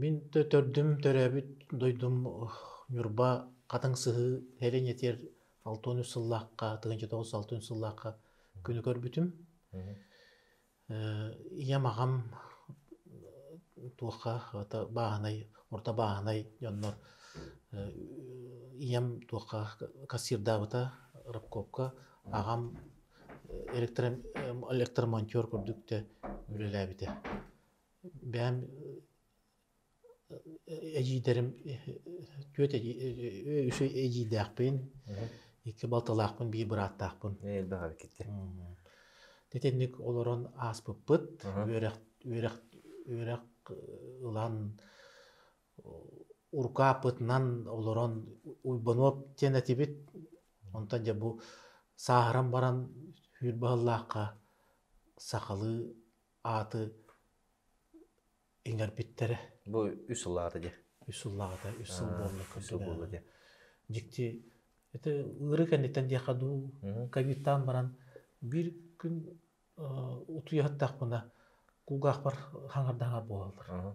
Мин да төрдүм төрөөбүт дойдум Ньурба Хатыҥ Сыһыы сэрин этиэр алта үс сыллаахха тыһыынча тоҕус алта үс сыллаахха күнү көрбүтүм. ийэм аҕам туохха хата бааһынай орто бааһынай дьоннор ийэм туохха кассирдаабыта рабкопка аҕам электро электромонтер курдук да үлэлээбитэ бэйэм эдьиийдэрим түөрт үс эдьиийдээхпин, икки балтылаахпын, биир бырааттаахпын. Элбэх эркиттэр. Итинник олорон ааспыппыт. Үөрэх үөрэх үөрэх ылан урукааппытынан олорон уйбануоп диэн этибит. Онтон дьэ бу сааһыран баран сүүр баһыллаахха сахалыы ааты иҥэрбиттэрэ. Бу үс сыл аата дьэ. Үс сыл аата, үс сыл буолла курдук. Дьикти это ыыры кэнниттэн диэхэ дуу ковидтаан баран биир күн утуйа саттахпына кулгаахпар хаҥардаҥар буолаллар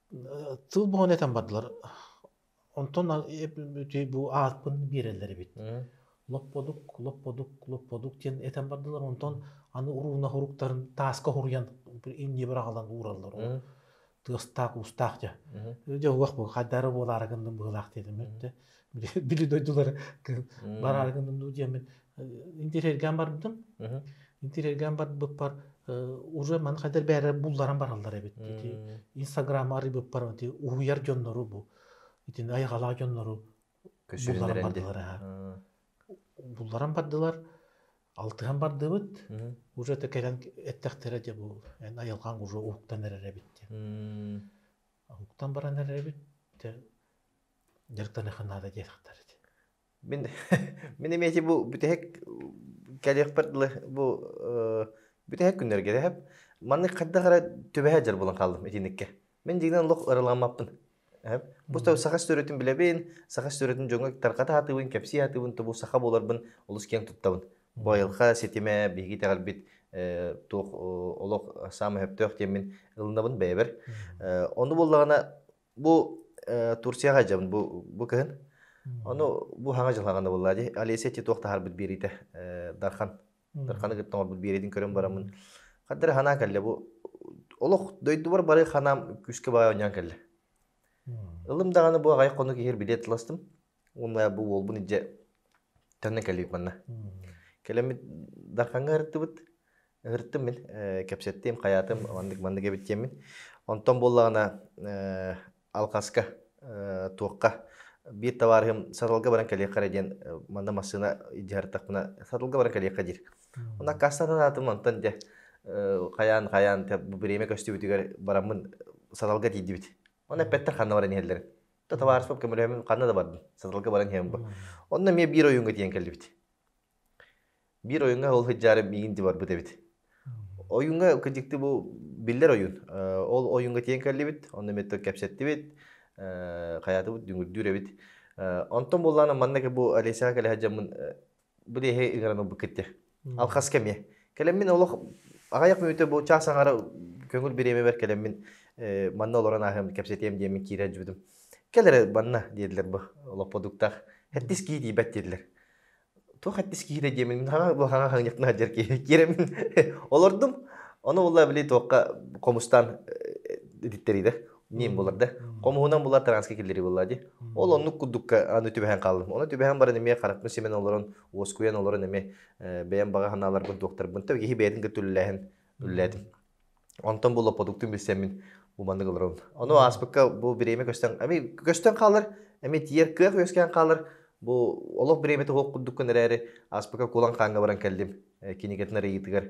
Тыл бөҕөнү этэн бардылар. Онтон бу ааппын биэрэллэр эбит. Лопподук, лопподук, лопподук диэн этэн бардылар. Онтон аны урууна уруктарын тааска уһуруйан инньэ быраҕылан уураллар. Тыастаах-уустаах дьэ. Дьэ уах бу хайдары буолаары гынным быһылаах диэтим өттө. били дойдулары бараргынным дуу диэмин интерьерgaan барбытым интерьерgaan барбыппар уже маны хайдар бээрэ булларан бараллар эбит ити инстаграма арыйбыппар ити уһуйар дьоннору бу итин айҕалаах дьоннору булларан бардылар булларан бардылар алтыһан бардыбыт уже это кэлэн эттэхтэрэ дьэ бу эн айылҕаң уже уһуктан эрэр эбит диэн уһуктан баран эрэр эбит дьарыктаныахха наада диэтэхтэр ити мин мин эмиэти бу бүтэһик кэлиэхпэр дылы бу бүтэһик күннэргэ дэһэп маннык хайдах эрэ түбэһэ дьар булан хааллым итинникке мин дьиҥинэн олох ырылааммаппын эһэп бу саха стөрүтүн билэбин саха стөрүтүн дьоҥҥо тарҕата сатыыбын кэпсии сатыыбын тобу саха буоларбын олус киэн туттабын байылҕа ситимэ биһиги итэҕэлбит туох олох саамай сөптөөх диэммин ылынабын бэйэбэр ону буоллаҕына Бу э, Турцияҕа дьабын бу, бу кыһын. Ону бу хаҥа дьылҕаҕанда буолла дии. Олеся ти туох таһарбыт биэриитэ э, Дархан. Дарханы кытта орбут биэриитин көрөн бараммын. Хаддары ханаа кэлле бу олох дойдубар бары ханам күскэ баҕа онньан кэлле. Ылым даҕаны бу аҕай хонук иһир билет ыластым. Уонна бу уолбун ije төннө кэлбит манна. Кэлэммит Дарханга ырыттыбыт. Ырыттым мин кэпсэттим, хаятым маннык маннык эбиттиэммин. Онтон буоллаҕына алкаска туохха биир табаарыһым саталга баран кэлиэххэ эрэ диэн манна массыына идиһартахпына саталга баран кэлиэххэ диир. Онно аккаастатан аатым онтон дьэ хайаан хайаан бу бириэмэ көстүбүтүгэр бараммын саталга тиийдибит. Ону эппэттэр ханна баран иһэллэрин. татаваарство көмөлөөмүн ханна да бардым саталга баран иһэбин онно эмиэ биир ойуунга тиийэн кэллибит биир ойуунга ол сыдьаары миигин дии барбыт эбит ойуунга кырдьыкты бу биллэр ойуун ол ойуунга тиийэн кэллибит онно эмиэ кэпсэттибит хайаатыбыт дүҥүрдүүр эбит онтон буоллаана манна бу олесяға кэле сылдьаммын бу леһи ыгыран ылбыт китти алхас кэмиэ кэлэммин олох аҕайах мүөтө бу чаас аҥара көҥүл бириэмэбэр кэлэммин манна олорон ааһыам кэпсэтиэм диэммин киирэ жүрдүм кэл эрэ манна диэдилэр бу олопподуктаах хэттис кии диибэт диэтилэр туох хэттис киирэ диэммин мин хаҥа бу хаҥа хаҥньахпын алдьар киирэммин олордум ону улла били туохха хомустаан ититтэриилэр ним булар да хомуһунан була транска киллери була ди ол оннук курдукка аны түбэһэн хааллым оны түбэһэн баран эмиэ хараппын симэн олорон уоскуйан олорон эмиэ бэйэм баҕа санааларбын туохтарбын та киһи бэйэтин гөртүллээһин үллээтим онтон бу лопотуктун билсэммин бу маннык олорон ону ааспыкка бу бириэмэ көстөн эми көстөн хаалар эми тиер кыах үөскээн хаалар бу олох бириэмэтэ хоқ курдуккун эрээри ааспыкка кулан хааҥҥа баран кэллим кинигэтин арыйыытыгар.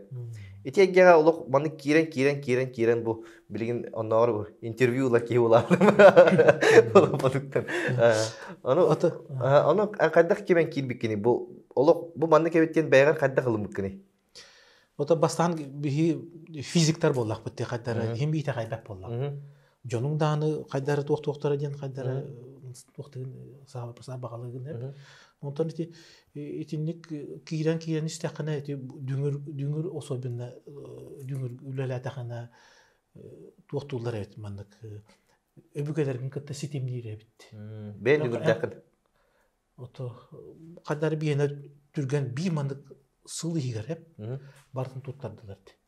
Ити эйгэҕэ олох маннык киирэн киирэн киирэн киирэн бу билигин оннооҕор бу интервью ылар киһи улаатым. Олохтон. Ону ону хайдах кимэн киирбиккиний? Бу олох бу маннык эбит диэн бэйэҕэр хайдах ылыммыккыний? Ото бастаан биһи физиктар буоллахпыт те хайдара иһин биитэ хайдах буолла. дьонуҥ дааны хайдары туохтуохтара диэн хайдары туохтугун саабаҕалыгын эп онтон ити итинник киирэн киирэн истэххинэ ити дүҥүр дүҥүр особенно дүҥүр үлэлээтэххинэ туохтууллар эбит маннык өбүгэлэргин кытта ситимниир эбит бэйэн дүҥүрдэххин ото хайдары биэнэ түргэн би маннык сыл иһигэр эп бартын туттардылар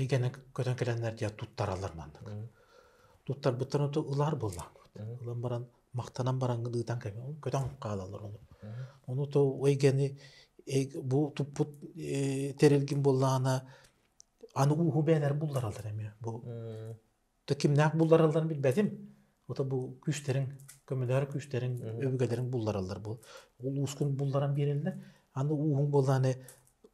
эйгэнэн көтөн кэлэннэр диэн туттараллар маннык. Туттарбыттан оту ылаар буоллаҥҥыт. Ылан баран махтанан бараҥҥын ыытан көтөн хаалаллар ону. Ону то эйгэни бу туппут тэрилгин буоллаҕына аны ууһу бээнэр буллараллар эмиэ бу да кимнээх булларалларын билбэтим. Ото бу күүстэриҥ, көмөлөөр күүстэриҥ, Мгм. өбүгэлэриҥ буллараллар. Бу улуускун булларан биэрэллэр. Аны ууһуҥ буоллаҕына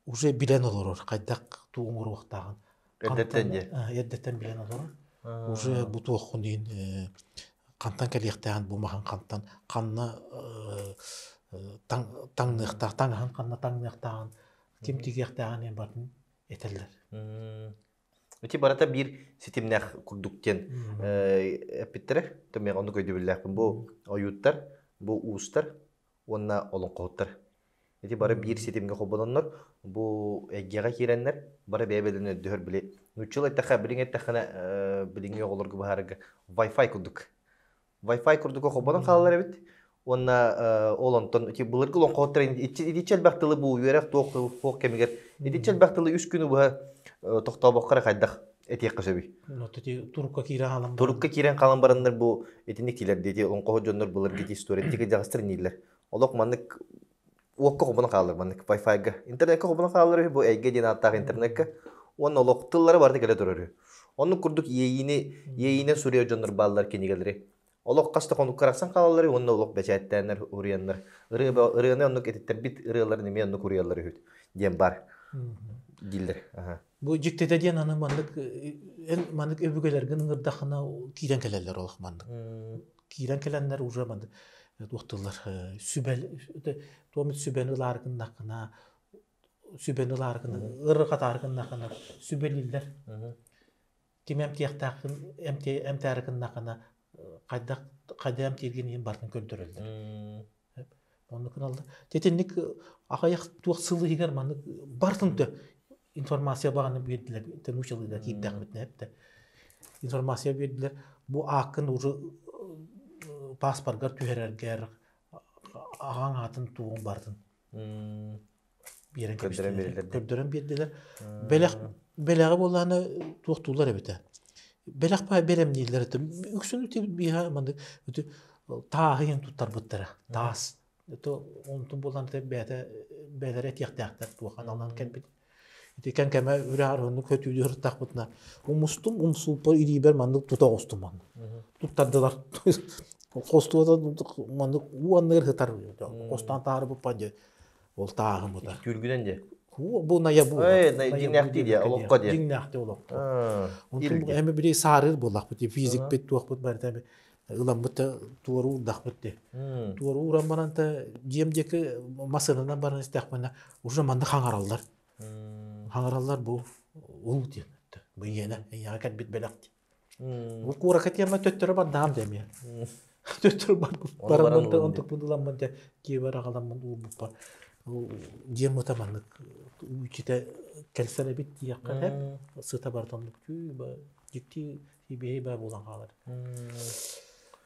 уже билэн олорор хайдах туу оҥоруохтааҕын. Хантан Эрдэттэн дьэ. э, эрдэттэн билэн олорор. Уже А. бу туоххун иһин э, хантан кэлиэхтээҕин бу маһаҥ хантан ханна э, э, таҥ таҥныахтаах таҥаһын ханна таҥныахтааҕын ким Мгм. тигиэхтээҕин эн бартын этэллэр. Мм. Эти барыта биир ситимнээх курдук диэн эппиттэрэ. Төмех оннук өйдөбүллээхпин. Бу ойууттар, бу уустар уонна олоҥхоһуттар. Ити бары биир ситимгэ холбононнор, бу эйгэҕэ киирэннэр, бары бэйэ бэйэлэрин өрдөһөр били нууччалыы эттэххэ, билиҥ эттэххинэ, билиҥҥи оҕолорго быһаарарга Wi-Fi курдук. Wi-Fi курдук холбонон хаалар эбит. Уонна ол онтон былыргы олоҥхоһуттар итиччэ элбэх тылы бу үөрэх туох туох кэмигэр итиччэ элбэх тылы үс күнү быһа тоқтообокко эрэ хайдах этиэххэ сөбүй? Турукка киирэн хаалан Турукка киирэн хаалан бараннар бу итинник тиилэр диэти олоҥхоһут дьоннор былыргы история дьаҕастар нииллэр. Олох маннык уокка хобунан хаалар маннык Wi-Fi-га. Интернетка хобунан хаалар үһү, бу эйгэ диэн ааттаах интернетка. Уонна олох тыллара барыта кэлэ турар үһү. Оннук курдук иэйиини иэйиинэн суруйар дьоннор бааллар кинигэлэри. Олох хас да хонукка арахсан хаалаллар уонна олох бэчээттээннэр уруйаннар. Ырыа ырыаны оннук этиттэрбит ырыаларын эмиэ оннук уруйаллар үһү диэн бар дииллэр. Аха. Бу дьиктитэ диэн аны маннык эн маннык өбүгэлэргин ыҥырдахына киирэн кэлэллэр олох маннык. киирэн кэлэннэр уже маны туохтулар сүбэ туомут сүбэни ылаары гыннаххына сүбэни ылаары гына ырырҕатаары гыннаххына сүбэлииллэр ким эмтиэхтээххин эмтээри гыннаххына хайдах хайда эмтииргин иһин бартын көрдөрөллөр Оннук ылаллар. Итинник аҕыйах туох сыл иһигэр маннык барытын да информация баҕаны биэрдилэр. Научалыыга киирдэхпитинэ эптэ. Информация биэрдилэр. Бу ааккын уже пааспаргар түһэрэргэр аҕаҥ аатын туоҕун барытын Биэрэн кэбистилэр. Көрдөрөн биэрдилэр. Бэлэх бэлэҕи буоллаана туохтуулар эбитэ. Бэлэх баа бэрем дииллэр это үксүн ити биһа маннык ити тааһыйын туттарбыттара таас это онтун буолан ити бэйэтэ бэйэлэрэ этиэхтээхтэр туоха аналынан кэлбит ити кэн кэмэ үрээҕырыһынны көтүүдү ырыттахпытына умустум умсууппа илиибэр маннык тута оҕустуман туттардылар хостуота маннык уонныгар сытар хостон таары буппа диэ ол тааһымыта түүргүдэн дии бу найа бу дьиҥнээхтии диэ олоххо диэ дьиҥнээхтии олоххо онтон эми били саарыыр буоллахпыт физикпит туохпут барыта эми ыламмыт да туору уурдахпыт дии туору уурамманан да дьиэм диэки массыынанан баран истэхпинэ уже манна хаҥараллар хаҥараллар бу уу диэн быйиэнэ эйиэҕэ кэлбит бэлэх дии курака тема төттөрө бардаам дэмиэ төттөрө бараммын да онтукпун ыламмын да киэбэр аҕаламмын ууммуппар дьиэм ыта маннык үүччүтэ кэлсэн эбит диэххэ эт сыта бардан дьикти баа буолан хаалар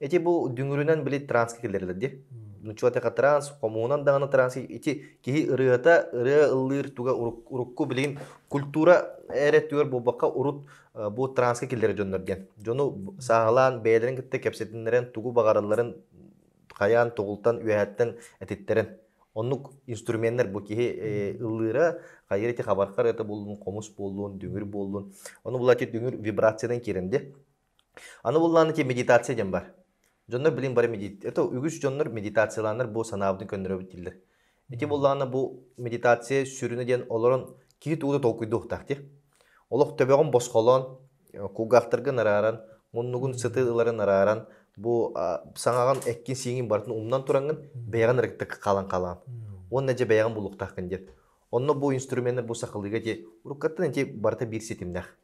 Эти бу дүҥүрүнэн били транска киллэрилэр дии. Нучуатака транс, хомуунан даҕаны транс ити киһи ырыата, ырыа ыллыыр туга урукку билигин культура эрэ түөр буолбакка урут бу транска киллэрэ дьоннор диэн. Дьону сааһылаан бэйэлэрин кытта кэпсэтиннэрэн тугу баҕаралларын хайаан тоҕултан үөһэттэн этиттэрэн оннук инструменнар бу киһи ыллыыра хайыр эти хабархар это буллун хомус буоллун дүҥүр буоллун ону булачы дүҥүр вибрациянан киирэн де Аны буллааны ти медитация диэн бар. Дьоннор билин бары медит... Это үгүс дьоннор медитацияланар бу санаабытын көннөрөбүт диллер. Ити буллаана бу медитация сүрүнэ диэн олорон киһи туута толкуйдуохтаах ти. Олох төбөҕүн босхолоон, кулгаахтарга нарааран, муннугун сытыы ыларын нарааран, бу саҥаҕын эккин сииҥин барытын умнан тураҥын бэйэҕин ырыктык халан халаан. Уонна дьэ бэйэҕин булуохтааххын диэн. Онно бу инструменнар бу сахалыга ти уруккаттан ити барыта биир ситимнээх.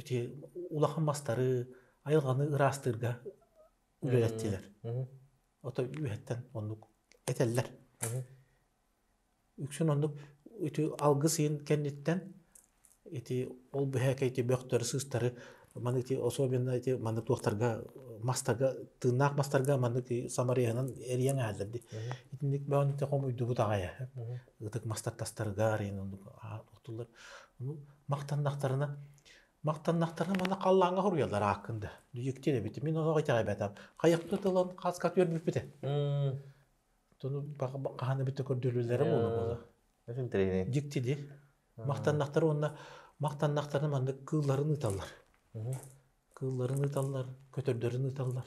ити улахан мастары айылҕаны ыраастыырга үлэлэттилэр. Ото үөһэттэн оннук этэллэр. Үксүн оннук ити алгыс ыйын кэнниттэн ити ол быһээкэ ити бөхтөрү-сыыстары маны ити особенно ити маны туохтарга мастарга тыыннаах мастарга маннык самарыйанан эрийэн эһэллэр ди. Итинник бөөнүтэ хомуйдубут аҕайа. Ытык мастар тастарга арыйын оннук охтуллар. махтаннахтарына махтаннахтарына манна халлааҥҥа хоруйалар ааккын да дьикти эбитим мин олох итэҕэйбэтим хайахпыта тылын хаска түөрбүппүтэ тону хаһан эбитэ көрдөрүүлэрэ буола буола дьиктили махтаннахтар уонна махтаннахтарына маннык кыылларын ыыталлар кыылларын ыыталлар көтөрдөрүн ыыталлар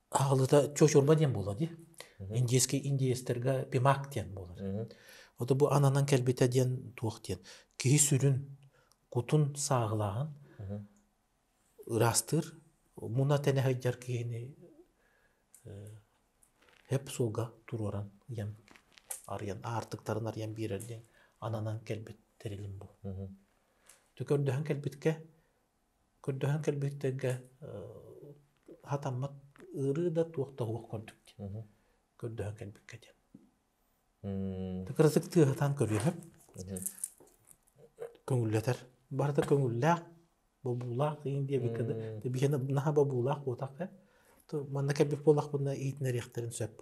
Аалыта чочурба диэн буолуо дии. Индийский индиецтэргэ пимак диэн буолар. Ото бу ананан кэлбитэ диэн туох диэн. Киһи сүрүн кутун сааҕылааһын ыраастыыр. Муна тэнэ сылдьар киһини эп суолга туруоран ийэм арыйан аартыктарын арыйан биэрэр диэн ананан кэлбит тэрилим бу. Төкөрдөһөн кэлбиккэ Көрдөһөн кэлбиттэргэ сатаммат ыарыы да туох да суох курдук диэн көрдөһөн кэлбиккэ диэн. Кырасык тыаһа сатаан көрүөһүп көҥүллэтэр. Барыта көҥүллээх, бобуулаах деген диэбиккэ да биһиэнэ наһаа бобуулаах буолтаах э. То манна кэлбит буоллахпына иһитиннэриэхтэрин сөп.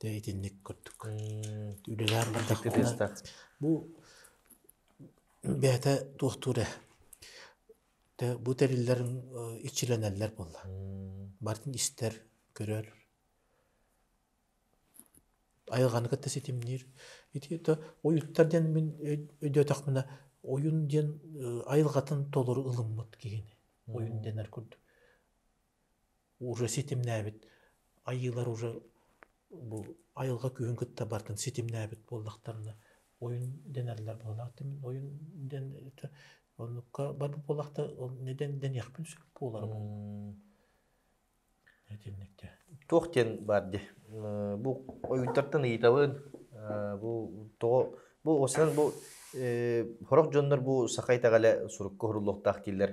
Дэ итинник курдук үлэлээн бардахпына бу бэйэтэ туохтуур ээ дэ бу тэриллэрим иччилэнэллэр буолла барытын истэр көрөр айылҕаны кытта ситимниир ити то ойууттар диэн мин өйдөөтөхпүнэ ойун диэн айылҕатын толору ылыммыт киһини ойун дэнэр курдук уже ситимнээбит айыылар уже бу айылҕа күүһүн кытта барытын ситимнээбит буоллахтарына ойун дэнэллэр буоллахтар мин ойун дэн оннукка барбыт буоллахтар ол нэдэн дэниэхпин сөп буолара итинникте туох диэн баар ди бу ойунтартан ыйытабын бу тоҕо бу осынан бу сорох дьоннор бу саха итэҕэлэ сурукка уһуруллуохтаах дииллэр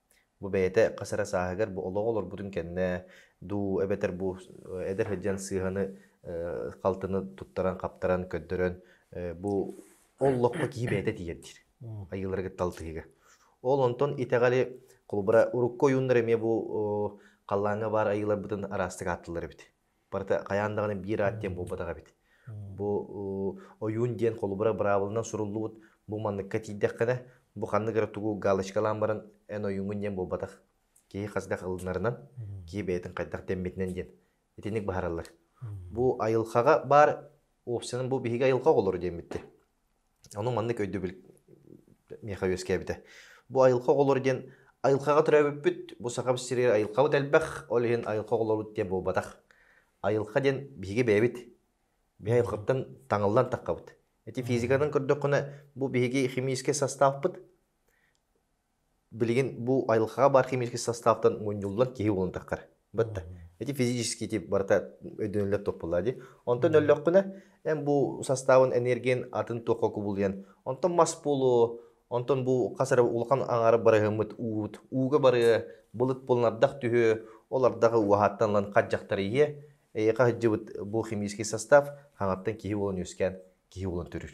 Бу бэйэтэ хас эрэ сааһыгар бу олоҕу олорбутун кэннэ дуу эбэтэр бу эдэр сылдьан сыыһаны э, халтыны туттаран хаптаран көрдөрөн э, бу ол локко киһи бэйэтэ тиийэр диир айыылары кытта алтыһыыга. Ол онтон итэҕэли холобура урукку ойууннар эмиэ бу халлааҥҥа баар айыыларбытын араастык ааттыыллар эбит. Барыта хайаан даҕаны биир аат диэн буолбатах эбит. Бу ойуун диэн холобура быраабылынан суруллубут. Бу манныкка тиийдэххинэ, бу ханнык эрэ тугу галочкалаан баран эн ойууҥҥун диэн буолбатах. Киһи хасдах ылынарынан, киһи бэйэтин хайдах дэммитинэн диэн итинник быһаараллар. Бу айылҕаҕа баар опсиянан бу биһиги айылҕа оҕолору диэн бүттэ. Ону маннык өйдөбүл миэхэ үөскээбитэ. Бу айылҕа оҕолоро диэн айылҕаҕа төрөөбүппүт, бу Саха сириэр айылҕабыт элбэх, ол иһин айылҕа оҕолоробут диэн буолбатах. Айылҕа диэн биһиги бэйэбит. Биһи айылҕаттан таҥыллан таххабыт. Ити физиканан көрдөххүнэ, бу биһиги химическэй састааппыт. Билигин бу айылҕаҕа баар химический састаабтан мунньуллан киһи булунтаххар. Батта. Ити физический тип барыта өйдөнөллөр топполлоох дии. Онтон өллөххүнэ эн бу састаабын энергиин атын туохха кубулуйан онтон мас буолуо, онтон бу хас эрэ улахан аҥаара барыһыммыт уут, ууга барыа, былыт булан ардах түһүө, ол ардах уһааттан ылан хадьахтарыйыа. Эйиэхэ сылдьыбыт бу химический састаап хаҥаттан киһи буолан үөскээн киһи буолан төрүүр.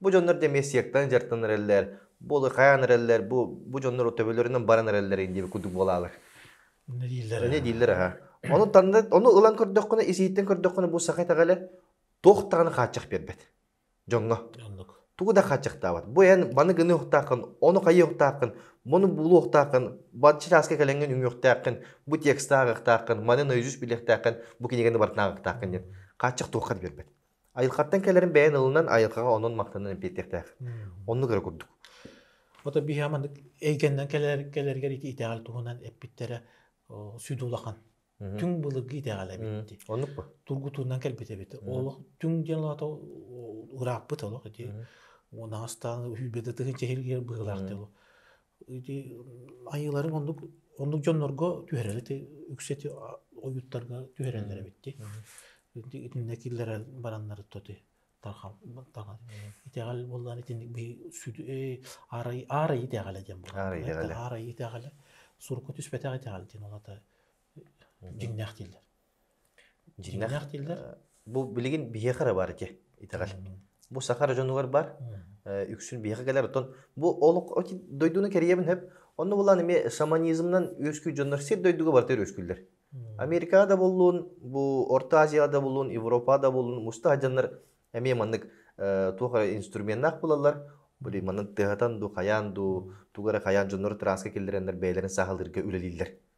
Бу дьоннор да эмиэ сектаны дьартан эрэллэр, бу улархайан эрэллэр, бу, бу дьоннор төбөлөрүнэн баран эрэллэрин диэбит курдук буолаалар. Ону дииллэр Аны аһа. дииллэр аһа. Ону танна ону ылан көрдөххүнэ, исиһиттэн көрдөххүнэ бу саха итэҕэлэ туох даҕаны хааччах биэрбэт дьоҥҥо. Оннук. Тугу да хааччахтаабат. Бу эн маны гыныахтааххын, ону хайыахтааххын, мону булуохтааххын, бачча чааска кэлэҥҥин үҥүөхтээххин, бу текстты ааҕыахтааххын, маны наизусть билиэхтээххин, бу кинигэни барытын ааҕыахтааххын диэн. Хааччах туохха да биэрбэт. Айылхаттан кэлэрин бэйэн ылынан айылхаҕа онон-махтанан эппиэттиэхтээх. Оннук эрэ курдук. Ото биһа маннык эйгэннэн кэлэр кэлэргэр ити итэҕэл туһунан эппиттэрэ сүдү улахан. Түҥ былыргы итэҕэл эбит. Оннук бу. Тургутуунан кэлбит эбит. Олох түҥ диэн олото ырааппыт олох ити. Унаастаан үйбэтэ тыһын чэһиргиэр быһылаах диолу. ити айыыларын оннук оннук дьоннорго түһэрэр ити үксэти ойууттарга түһэрэллэр эбит ди итиннэ киллэрэ бараннар тоти тархал таҥар итэҕэл боллаан итинник би сүдү аарайы аарайы итэҕэлэ диэн аарайы итэҕэлэ сурукка түспэтэх итэҕэл диэн олата дьиҥнээх дииллэр Дьиҥнээх бу билигин биһиэхэ эрэ баар ити итэҕэл. Бу саха дьонугар бар, үксүн биһиэхэ кэлэр. Оттон бу олох дойдуну кэрийэбин сөп. Онно булан эмиэ шаманизмынан үөскүүр дьоннор сир дойдуга барыта үөскүүллэр. Америкаҕа да буоллун, бу Орто Азияҕа да буоллун, Европаҕа да буоллун мустаах дьоннор эмиэ маннык туох эрэ инструменнаах булаллар. Били манан тыаһатан дуу, хайаан дуу, тугу эрэ хайаан дьоннору транска киллэрэннэр бэйэлэрин сааһылыырга үлэлииллэр.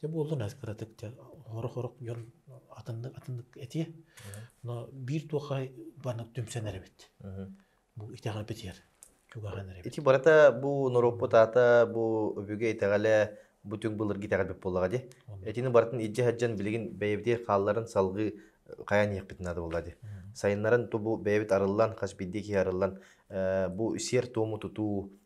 Дьэ буоллун эс кыратык дьэ хорох-хорох дьон атыннык атыннык этиэ. Но биир туохха барыны түмсэнэр эбит. Бу итэҕэл битиэр. Чугаһын эрэ. Ити барыта бу норуоппут аата бу өбүгэ итэҕэлэ бу түҥ былыргы итэҕэл эбит буоллаҕа дии. Этини барытын илдьэ сылдьан билигин бэйэбитий хаалларын салгыы хайан иһиэхпит наада буолла дии. Сайыннарын ту бу бэйэбит арыллан, хас биирдии киһи арыллан бу сиэр-туому тутуу,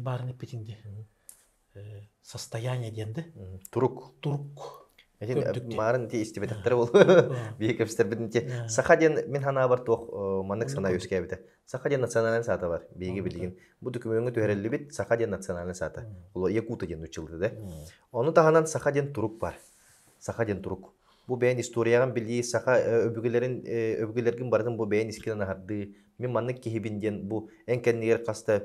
баарын эппитин диэ состояние диэн да турук турук марын дии истибэтэхтэрэ бол биһи кэпсетэрбитин ти саха диэн мин ханаабар туох маннык сана үөскээбитэ саха диэн национальный саата бар биһиги билигин бу документҥа түһэриллибит саха диэн национальный саата уло якута диэн учылды да ону таһынан саха диэн турук бар саха диэн турук Бу бэйэн историяҕын билии, саха өбүгэлэрин өбүгэлэргин барытын бу бэйэн искинэн аһардыы, мин маннык киһибин диэн бу эн кэннигэр хас да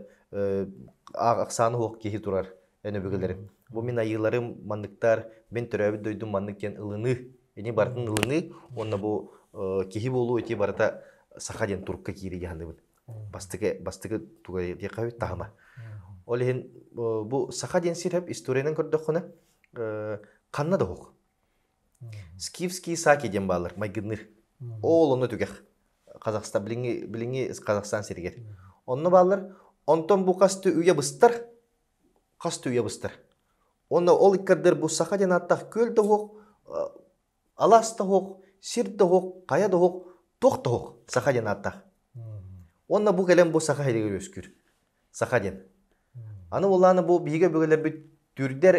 ахсаана суох киһи турар эн өбүгэлэрим. Бу мин айыыларым манныктар, мин төрөөбүт дойдум маннык диэн ылыныы, ини барытын ылыныы уонна бу киһи буолуу ити барыта саха диэн турукка киирии дьаһанныбыт. Бастакы бастакы тугай диэххэ таһыма. Ол иһин бу саха диэн сир историянан көрдөххүнэ ханна да уһук. Скифский саки диэн баалар майгынныыр. Ол онно түгэх. Казахстан билиҥҥи билиҥҥи Казахстан сиригэр. Онно баалар. Онтон бу хас үйэ быстар хас үйэ быстар. Онно ол иккардыр бу саха диэн ааттаах күөл да оһох, алаас да оһох, сир да оһох, хайа да оһох, туох да оһох саха диэн ааттаах. Уонна бу кэлэн бу саха иһигэр үөскүүр. Саха диэн. Аны булааны бу биһиги өбүгэлэрбит түрдэр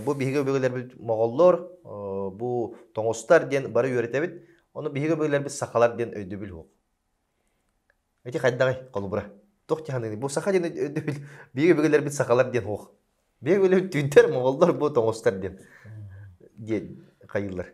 бу биһиги өбүгэлэрбит моголлор бу тоҥустар диэн бары үөрэтэбит. Ону биһиги өбүгэлэрбит сахалар диэн өйдөбүл уһук. Эти хайдаҕай холобура. Туох тиһаныыны бу саха диэн өйдөбүл биһиги өбүгэлэрбит сахалар диэн уһук. Биһиги өбүгэлэрбит түүнтэр моголлор бу тоҥустар диэн диэн хайыылар.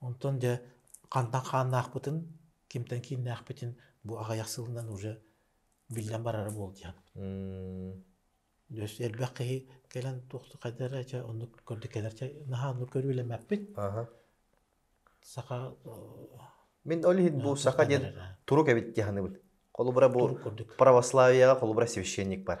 Онтон дьэ хантан хааннаахпытын, кимтэн кииннээхпитин бу аҕыйах сылынан уже биллэн барара буолдьаан. Өс элбэх киһи кэлэн туохта эрэ чэ оннук көрдө кэлэр чэ наһаа оннук көрүүлэммэппит. Саха Мин ол иһин бу саха диэн турук эбит дии саныыбын. Холобура бу православиеҕа холобура священник бар.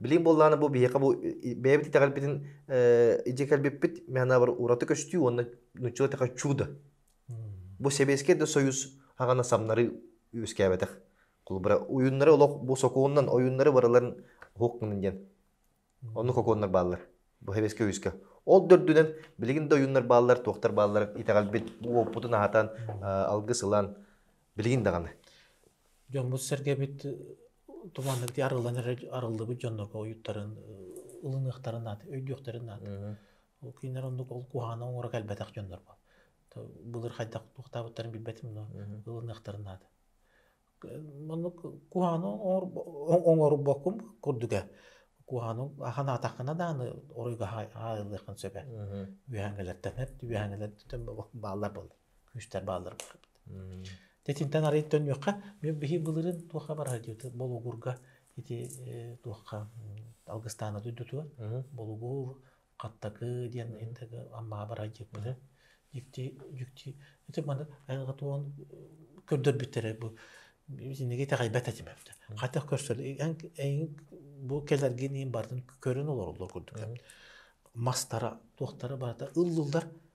Билигин буоллаҕына бу биһиэхэ бу бэйэбит итэҕэлбитин илдьэ кэлбиппит миэхэнэбэр ураты көстүү уонна нучча да чудо. Бу Сэбиэскэй да Союз хаҕана самнары үөскээбэтэх. Холобура уйуннары олох бу сокуонунан ойуннары барыларын уһук гынын диэн. Онну коконнар бааллар бу Сэбиэскэй Союзка. Ол дөрдүнэн билигин да ойуннар бааллар, туохтар бааллар итэҕэлбит бу уоппутун аһатан алгыс ылан Билигин даҕаны. Дьоммут-сэргэбит туманнык дии арыллан эрэ арыллыбыт дьоннорго ойуттарын ылыныахтарын наада, өйдүөхтэрин наада. Ол кинилэр оннук ол куһаҕана оҥоро кэлбэтэх дьоннорбо. Былыр хайдах туохтаабыттарын билбэтим но ылыныахтарын наада. Маннык куһаҕаны оҥорбоккун курдуга. Куһаҕаны санаатаххына дааны оройго хаайыллыахын сөбө. Үөһэҥгэлэртэн үөһэҥгэлэртэн бааллар буоллар. күүстэр бааллар бары. Тэтинтэн арыый төннүөххэ. Биһиги былырын туохха бараһа диэти Болугурга ити туохха алгыстаана дойдутуга Болугур, Хаттакы диэн интеге аммаа бараһа диэкпитэ. Дьикти дьикти ити маны туон көрдөрбүттэрэ бу итиниги итэҕэйбэт этим эбитэ. Хатах көрсөл бу кэлэргин ин барын көрөн олороллор курдук. Мастара туохтара барата ыллыллар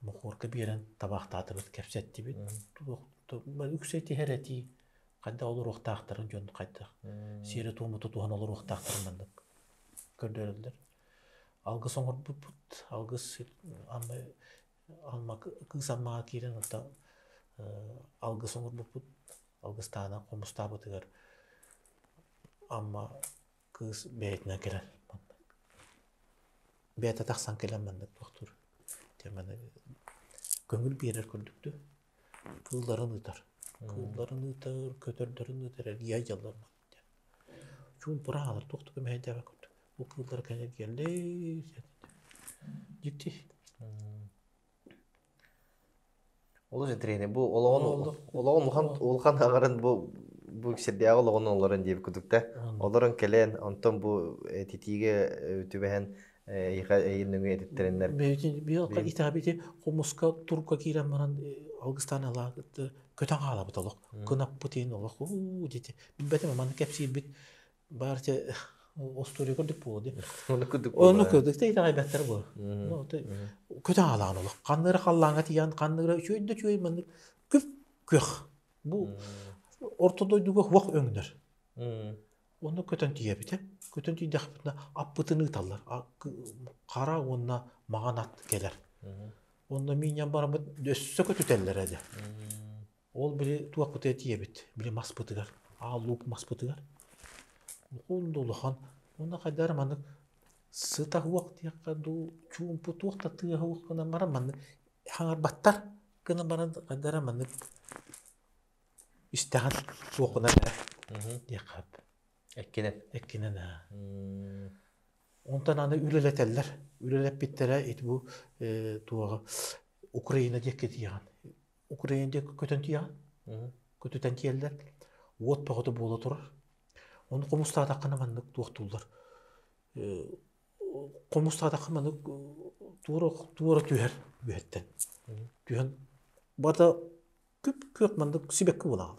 Мохуорга биэрэн табаахтаатыбыт, кэпсэттибит. Туох үксэ этиһэр этии, хайдах олоруохтаахтарын дьон хайдах сиэрэ-туому тутуһан олоруохтаахтарын маннык көрдөрөллөр. Алгыс оҥорбуппут, алгыс Амма Амма кыыс Аммаҕа киирэн ата алгыс оҥорбуппут, алгыстаана хомустаабытыгар Амма Кыыс бэйэтинэн кэлэн манна бэйэтэ тахсан кэлэн манна туохтуур дьэ манна көҥүл биэрэр курдук да кыылларын ыытар. Кыылларын ыытар, көтөрдөрүн ыытар, эргийэ дьаллар диэн. Чуумпура аалар туох да көмөһүйдээбэт курдук. Бу кыыллар кэннигэр кэллэй дьикти олус интэриэһинэй бу олоҕун олоҕун улахан улахан аҥарын бу бу сирдээҕи олоҕун олорон диэбит курдук да олорон кэлэн онтон бу этитиигэ түбэһэн эйиэхэ эйин нөҥүө этиттэриннэр бэйиэхэ итаабити хомуска турка киирэн баран алгыстаан ала көтөн хаалабыт олох кынаппыт иһин олох уу дити билбэтим манна кэпсиирбит Баарча устуруй курдук буолуо Ону курдук Ону буолара. курдук да итэҕэйбэттэр буолар. Ну, ты көтөҕалаан олох ханныыра халлааҥҥа тиийэн ханныыра үчүгэй да үчүгэй маннык күп-күөх. Бу орто дойдуга уох өҥнөр. Ону көтөн тиийэбитэ. Көтөн тиийдэхпитинэ аппытын ыыталлар. Хара уонна маҕан ат кэлэр. Онно миинньэн бараммыт өссө көтүтэллэр эдэ. Ол били туохпутуй этиэбит, били маспытыгар, аал-луук маспытыгар. Уһун да улахан, уонна хайдары маннык сыта уох диэххэ дуу, чуумпу туох да тыаһа уох гынан баран маннык хаҥарбаттар гынан баран хайдары маннык истэҕин суох гынан эрэ диэххэт. Эккинэн. Эккинэн ээ. Онтон аны үлэлэтэллэр. Үлэлэппиттэрэ ити бу э, туоҕа Украина диэкки тиийэҕин. Украина диэки көтөн тиийэҕин, көтүтэн тиэллэр, уот бөҕөтө буола турар. Ону хомустаатаххына маннык туохтууллар. Хомустаатахха маннык туора туора түһэр үөһэттэн. Түһэн барда күп-күөх маннык сибэкки буолаҕын.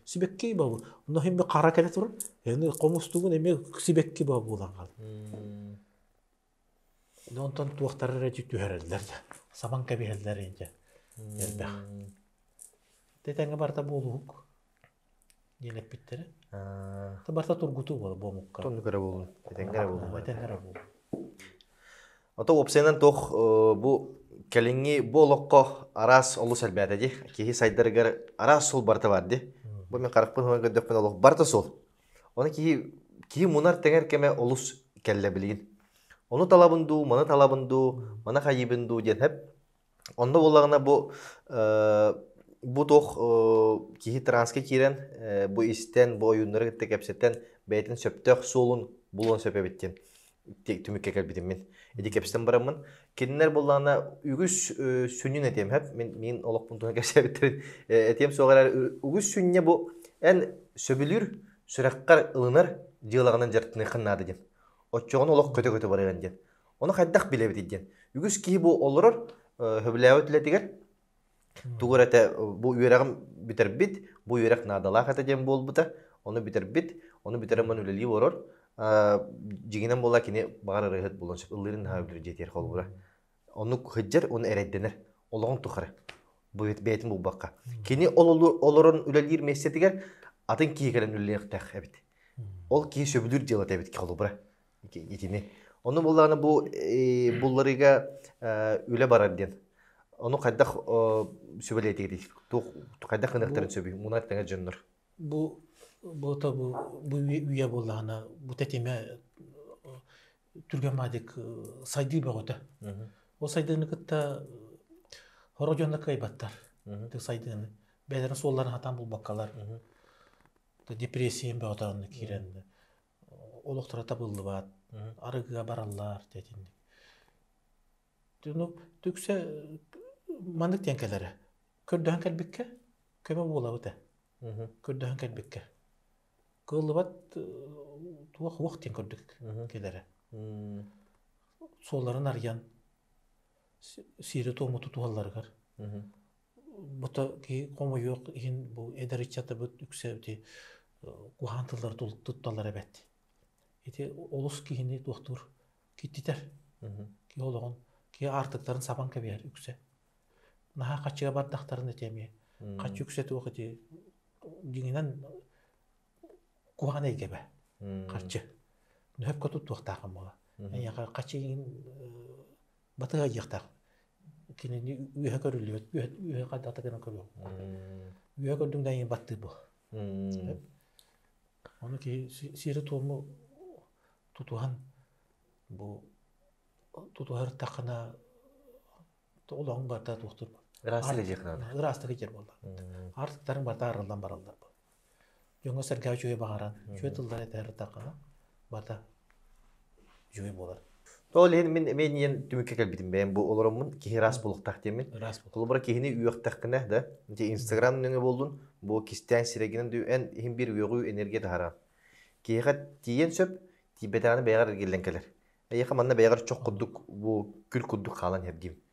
Сибэкки баабы. Онно химмэ хара кэлэ турар. Эни хомустугун эмиэ сибэкки баа буолан хаалар. Онтон туохтара эрэ дьэ түһэрэллэр да, саман кэбиһэллэр дьэ элбэх. Ити тэҥҥэ барыта буолуһук диэн эппиттэрэ. Аты барыта тургутуу буолар бу омукка. Туннук эрэ буоллун, этэҥҥэ эрэ буоллун. Этэҥҥэ эрэ буоллун. Ото уопсайынан туох бу кэлиҥҥи бу олоххо араас олус элбээтэ дии. Киһи сайдарыгар араас суол барыта баар дии. Бу мин харахпын ылан көрдөхпүнэ олох барыта суол. Оны киһи киһи мунар тэҥэр кэмэ олус кэллэ билигин. Ону талабын дуу, маны талабын дуу, маны хайыыбын дуу диэн хэп. Онно буоллаҕына бу э, бу туох э, киһи транска киирэн э, бу истэн, бу ойууннары кытта кэпсэтэн бэйэтин сөптөөх суолун булуон сөп эбит диэн. түмүккэ кэлбитим мин ити кэпсэтэн бараммын кинилэр буоллаҕына үгүс сүнньүн этиэм хэп мин мин олохпун туһунан кэпсээбиттэрин этиэм суох эрэ үгүс сүнньэ бу эн сөбүлүүр сүрэххэр ылынар дьыалаҕынан дьарыктаныаххын наада диэн оччоҕуна олох көтө-көтө барыан диэн ону хайдах билэбитий диэн үгүс киһи бу олорор сөбүлээбит үлэтигэр Тугу эрэ этэ бу үөрэҕим бүтэрбит, бу үөрэх наадалаах этэ диэн буолбута. Ону бүтэрбит, ону бүтэрэн ман үлэлии олорор. Дьиҥинэн буолла кини баҕар ырыаһыт булан сөп ыллыырын наһаа бүлүр диэтиэр холбуура. Оннук сылдьар, ону эрэйдэнэр. Олоҕун тухары бэйэтин булбакка. Кини олорон үлэлиир миэстэтигэр атын киһи кэлэн үлэлиэхтээх эбит. Ол киһи сөбүлүүр дьыалата эбит холобура. итини. Ону буллаҕына бу булларыыга үлэ барар диэн. Ону хайдах сүбэлиэтигит? Хайдах гыныахтарын сөбүй? Мунан тэҥэ дьоннор. Бу буота бу бу үйэ буоллаҕына бу тэтимэ түргэн маадык сайдыы бөҕөтө. Ол сайдыыны кытта хоро дьонно кыайбаттар. Сайдыыны. Бэлэрин суолларын хатан булбаккалар. Депрессия бөҕөтө онно киирэн. олохторо табыллыбат, арыгыга бараллар дэтинник. Ну, түксэ маннык диэн кэлэрэ. Көрдөһөн кэлбиккэ көмө буолабыт ээ. Көрдөһөн кэлбиккэ. Кыыллыбат туох уох диэн курдук кэлэрэ. Суолларын арыйан сири-туому тутуһалларыгар Бата киһи хомойуох иһин бу эдэр ыччатыбыт үксэбити куһаҕан тыллары тутталлар эбэт. Ити олус киһини туохтуур киртитэр. Киһи олоҕун, киһи аартыктарын сабан кэбиһэр үксэ. Наһаа хаччыга бардахтарына ити эмиэ. Хаччы үксэ туох ити дьиҥинэн куһаҕан эйгэбэ. Харчы. Нөһөпкө туттуохтааҕын буолар. Эйиэхэ хаччы иҥин батыһа диэхтээх кинини үөһэ көрүллүбэт үөһэ хардата гынан көрүөҕүҥ үөһэ көрдүҥ да эйиэн баттыыр бу ону киһи сиэри туому тутуһан бу тутуһартаххына олоҕуҥ барда туохтур ырааста диэх буолла артыктарын барта арыллан бараллар Дьоҥҥо-сэргэҕэ үчүгэй баҕаран, үчүгэй тыллары этэ ырытахха, барыта үчүгэй буолар. Ол иһин мин эмиэ ийэм түмүккэ кэлбитим бэйэм бу олороммун киһи ыраас буолуохтаах диэммин. Ыраас буол. Холобура киһини үөхтэххинэ да ити Инстаграм нөҥүө буоллун бу кистээн сирэгинэн дүү эн иһин биир үөҕүү энергия таһааран. Киһиэхэ тиийэн сөп, тиийбэтэҕинэ бэйэҕэр эргиллэн кэлэр. Эйиэхэ манна бэйэҕэр чох курдук бу күл курдук хаалан иһэр диим.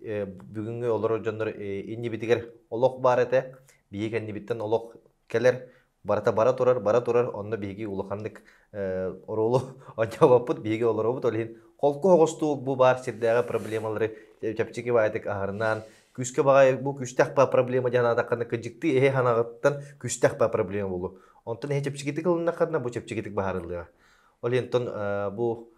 бүгүҥҥү олорор дьоннор иннибитигэр олох баар этэ. Биһиги кэннибиттэн олох кэлэр. Барыта бара турар, бара турар. Онно биһиги улаханнык оруолу онньообоппут, биһиги олоробут. Ол иһин холку оҕустуук бу баар сирдээҕи проблемалары чэпчэки баайытык аһарнаан, күүскэ баҕайы бу күүстээх проблема дии санаатаххына кыдьыктыы иһи ханаҕыттан күүстээх проблема буолуо. Онтон иһи чэпчэкитик ылыннаххына бу чэпчэкитик баһаарыллыаҕа. Ол иһин бу